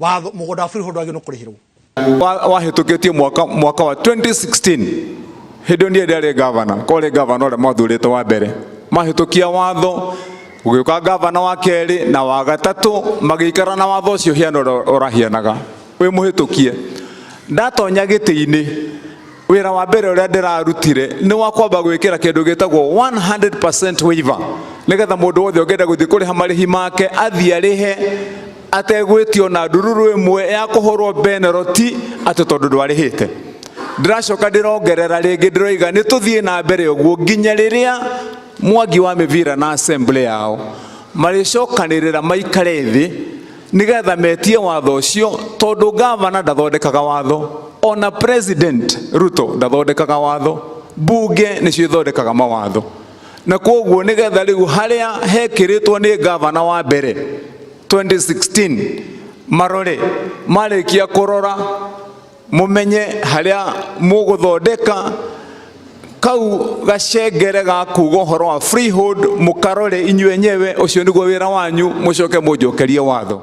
watho må gå nda wa freehold wagä no kå rä hä rwo wahĩtũkĩtie mwaka, mwaka wa 2016 hĩndĩ ĩyo ndiye ndarĩ gavana korĩ gavana ũrĩa mwathurĩte wa mbere mahĩtũkia watho ũgĩũka gavana wa kerĩ na wa gatatũ magĩikara na watho ũcio hiana ũrĩa ũrahianaga wĩ mũhĩtũkie ndatonya gĩtĩ-inĩ wira wa mbere uria ndirarutire ni wa kwamba gwikira kindu gitagwo 100% waiver nigetha mundu wothe ungenda guthii kuriha marihi make athii arihe ategwitio na ndururu imwe ya kuhurwo beneloti ati tondu ndwarihite ndiracoka ndirongerera ringi ndiroiga ni tuthii na mbere uguo nginya riria mwangi wa mivira na assembly yao maricokanirira maikare thi nigetha metie watho ucio tondu gavana ndathondekaga watho ona president ruto ndathondekaga watho mbunge nicio ithondekaga mawatho na koguo nigetha riu haria hekiritwo ni gavana wa mbere 2016 marore marikia kurora mumenye haria muguthondeka kau gacengere ga kuga ũhoro wa freehold mũkarore inyuĩ enyewe ũcio nĩguo wĩra wanyu mũcoke mũnjokerie watho